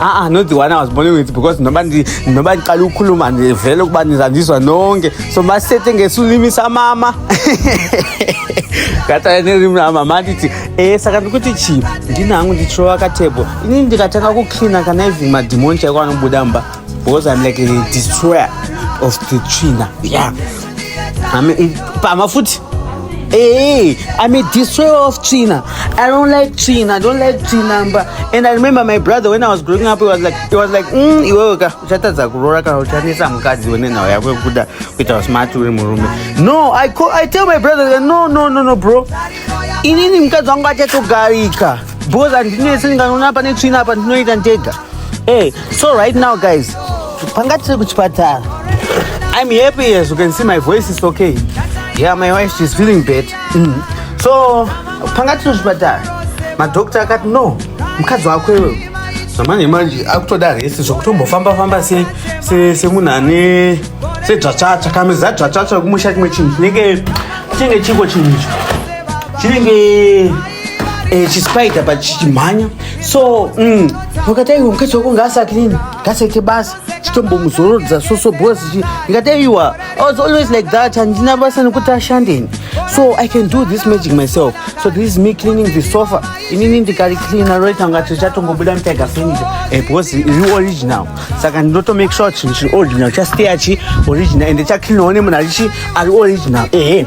aa not the one i was born with because noba ndinoba ndiqala ukukhuluma ndivele ukuba ndizandizwa nonke so masithethe ngesilimi samama kata nerimi ramama nditi e saka ndikuti chii ndinangu ndichirova katebho ini ndikatanga kuklina kana even madhimoni chaiko anobuda mba because im like a destroyer of the china ya yeah. I'm a, I'm a foot. Hey, I'm a destroyer of China. I don't like China. I don't like China. But, and I remember my brother when I was growing up, he was like, he was like, mm, iwewe ka uchatadza kuroora kana uchanetsa mukadzi wene nhau yako yekuda kuita smart uri murume. No, I call, I tell my brother, no, no, no, no, bro. Inini mukadzi wangu achatogarika. Boss andinese ndikanoona pane tsvina apa ndinoita ndega. Hey, so right now guys, panga tiri kuchipatara. I'm happy as you can see my voice is okay. Yeah, my wife she's feeling bad. Mm. So panga tiri kuchipatara. Madoctor akati no, mukadzi wako iwewe zvamanje manje akutoda rese zvokutombofamba famba semunhu ane sedzvatsvatsva kame zadzvatsvatsva kumusha chimwe chinhu chinenge chinenge chiko chinhu icho chinenge eh, chispider but chichimhanya so mm, vakati aiwa mukadzi wako ngaasati nini ngasaite basa chitombomuzorodza soso bos ndikati aiwa i was always like that handina basa nekuti ashandeni so i can do this magic myself so this is me cleaning the sofa inini ndikaricleana roita ngati richatongobuda mtiger furniture eh, bos iri original saka ndinoto make sure chinhu chiri original chastay achi original ende chacleanawo nemunhu arichi ari original ehe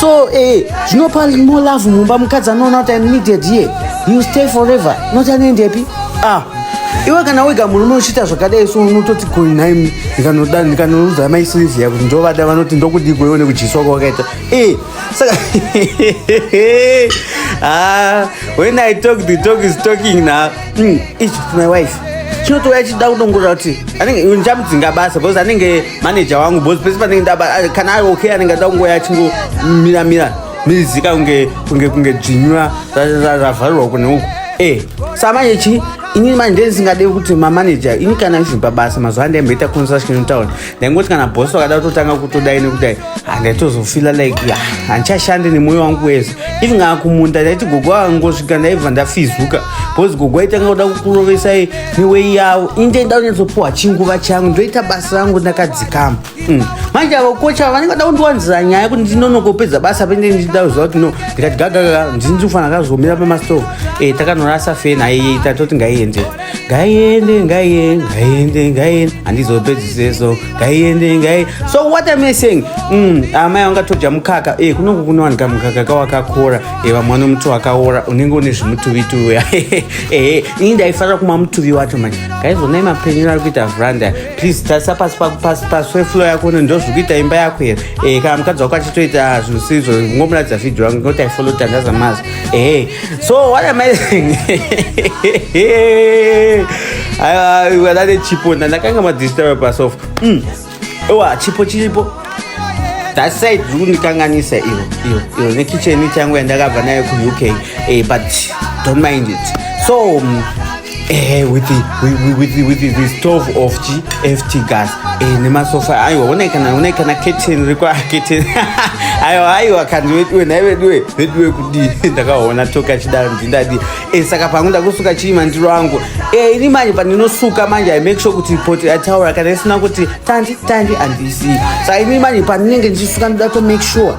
so eh, zvinopa more love mumba mukadzi anoona kuti im needed here you stay forever not anoendepi ah iwe kana wega murume uchiita zvakadai so unototi goi nhai ndikanoda ndikanoudza mai silvia kuti ndovada vanoti ndokudii goione kudyiswa kwawakaita e saka ah, when i talk the talk is talking now mm, ichi my wife chinotouya chichida kudongorera kuti anenge ndichamudzinga basa because anenge manager wangu because pese panenge ndaba ah, kana ari okay anenge ada kungouya achingomira mira mizika kunge kunge kunge dzvinyura ravharirwa kune uku e sa manje chi ini manje ndisingade kuti mamanager ini kana izvi pabasa mazuva andaimboita construction town ndaingoti kana bosi vakada kutotanga kutodai nekudai handaitozofila like ya handichashande nemwoyo wangu wese even kana kumunda ndaiti gogo akangosvika ndaibva ndafizuka bcause gogo aitanga kuda kukurovesai newei yavo ini ndaida kunyatsopuwa chinguva changu ndoita basa rangu ndakadzikama mm. manje avo kocha vanenge vada kundiwanzira nyaya kuti ndinonokopedza basa pende ndichida kuziva kuti no ndikati gagagaa ndini ndikufanira kazomira pamastove e eh, takanorasa fena aiyeita toti ngaiendei ngaiende ngaiende ngaiende ngaiende handizopedziseso ngaiende ngai so what am i saying mm, amai ah, angatodya mukaka e eh, kunongo kunowanika mukaka kawakakora e eh, vamwe vano muti wakaora unenge une zvimutuvituvi uya e ini ndaifanira kumwa mutuvi wacho manje ngaizonai mapenyero ari kuita vranda please tarisa pasi pasi pasi weflo yako no ndo zviri kuita imba yako here e kana mukadzi wako achitoita zvinhu sizvo ngomuratidza vhidhio yangu ngoti aifollow tandaza mazi Hey, so what am I saying? Aiwa, we were that chipo na ndakanga ma disturb pasofa. Mm. Ewa, chipo chiripo. That side zvikundikanganisa iyo iyo iyo nekicheni changu yandakabva nayo ku UK. Eh, but don't mind it. So, um, ehe eh, with, with, with, with the stove of gft gas eh, nemasofa aiwa onai kana onai kana keten riko aketen aiwa aiwa kandi veduwe nhai veduwe veduwe kudii ndakaona toke achidaro ndindadii e, saka pangu ndakusuka chii mandiro angu e, ini manje pandinosuka manje i make sure kuti poti ataura kana isina kuti tandi tandi andisii saka ini manje pandinenge ndichisuka ndoda to make sure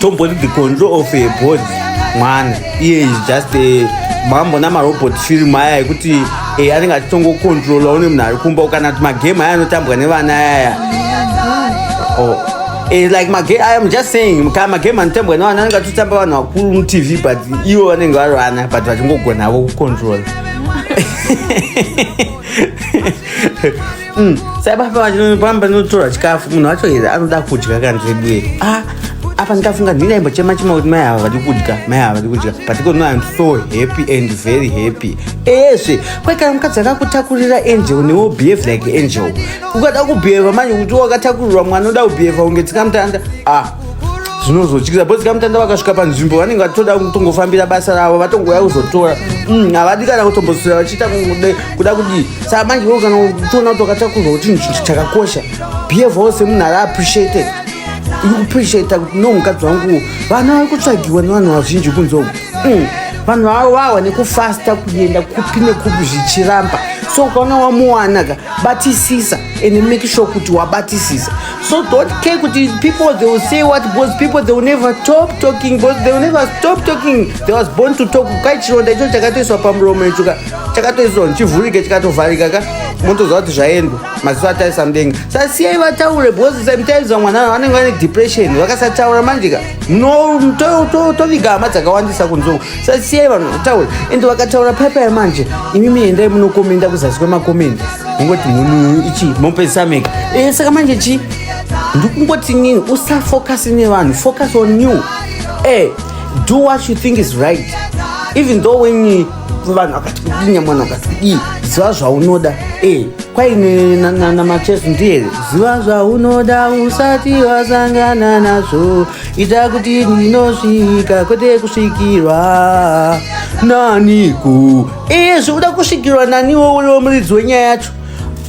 tomboti the control of a body mwana iye is just a mambo namarobot film aya ekuti e, anenge achitongokontrola one munhu ari kumba kana kuti magame aya anotambwa nevana ayaya oh. e, like magame aya am just saying kana magame anotambwa nevana anenge achitotamba vanhu vakuru mutv but ivo vanenge vari vana but vachingogonavo kukontrola Mm. Sababa vachino pamba notora chikafu munhu wacho here anoda kudya kana zveduye. Ah, apa ndikafunga ndina imbo chema chema kuti mai ava vari kudya mai ava vari kudya but iko noam so happy and very happy eshe kwaikana mukadzi akakutakurira angel newo behave like angel ukada kubheva manje kuti wakatakurirwa mwana oda kubheva unge tsikamutanda ah zvinozotyisa bhozi kamutanda vakasvika panzvimbo vanenge vatoda kutongofambira basa ravo vatongouya kuzotora mm, havadi kana kutombosira vachiita kuda kudii saka manje wo kana uchiona kuti wakatakurwa kuti chinhu chakakosha behavior semunhu ari appreciated ikupreciata kuti no mukadzi wangu vana vari kutsvagiwa nevanhu vazhinji kunze uku mm, vanhu vavo vahwa nekufasta kuenda kupi nekupi zvichiramba so ukaona wamuwanaka batisisa and make sure kuti wabatisisa So don't care kuti people they will say what because people they will never stop talking because they will never stop talking. They was born to talk. Kai chironda icho chakatoiswa pamuromo icho ka chakatoiswa chivhurike chikatovharika ka motoziva kuti zvaendwa maziso atarisa mudenga. Sa siyai vataure because sometimes vamwe vanhu vanenge vane depression vakasataura manje ka munotoviga hama dzakawandisa kunzou. Sa siyai vanhu vataure and vakataura paipai manje imimi endai munokomenda kuzasi kwemakomenda. kungoti munhu ichi mopedzisa mega e, eh, saka manje chi ndikungoti nini usafocus nevanhu focus on you e, do what you think is right even though when vanhu akati kudii nyamwana akati kudii ziva zvaunoda e, kwaine namachesu ndiyere ziva zvaunoda usati wasangana nazvo ita kuti ndinosvika kwete kusvikirwa naniko ee zvekuda kusvikirwa nani wouriwo muridzi wenyaya yacho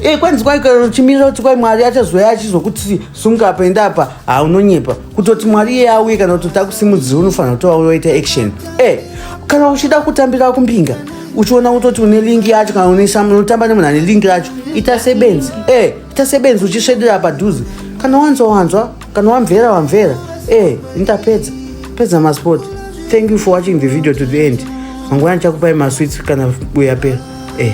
ee kwanzi kwaikachimirira kuti kwai mwari achazouya achizokuti sunga apa enda apa haunonyepa kutoti mwari iye auye kana kutoti akusimudzira unofanira kuti wauya waita action e kana uchida kutambira kumbinga uchiona kutoti une lingi yacho kana unotamba nemunhu ane lingi racho ita sebenzi e ita sebenzi uchisvedera padhuze kana wanzwa wanzwa kana wamvera wamvera eh nditapedza pedza masport thank you for watching the video to the end mangwana chakupai maswits kana uyapera eh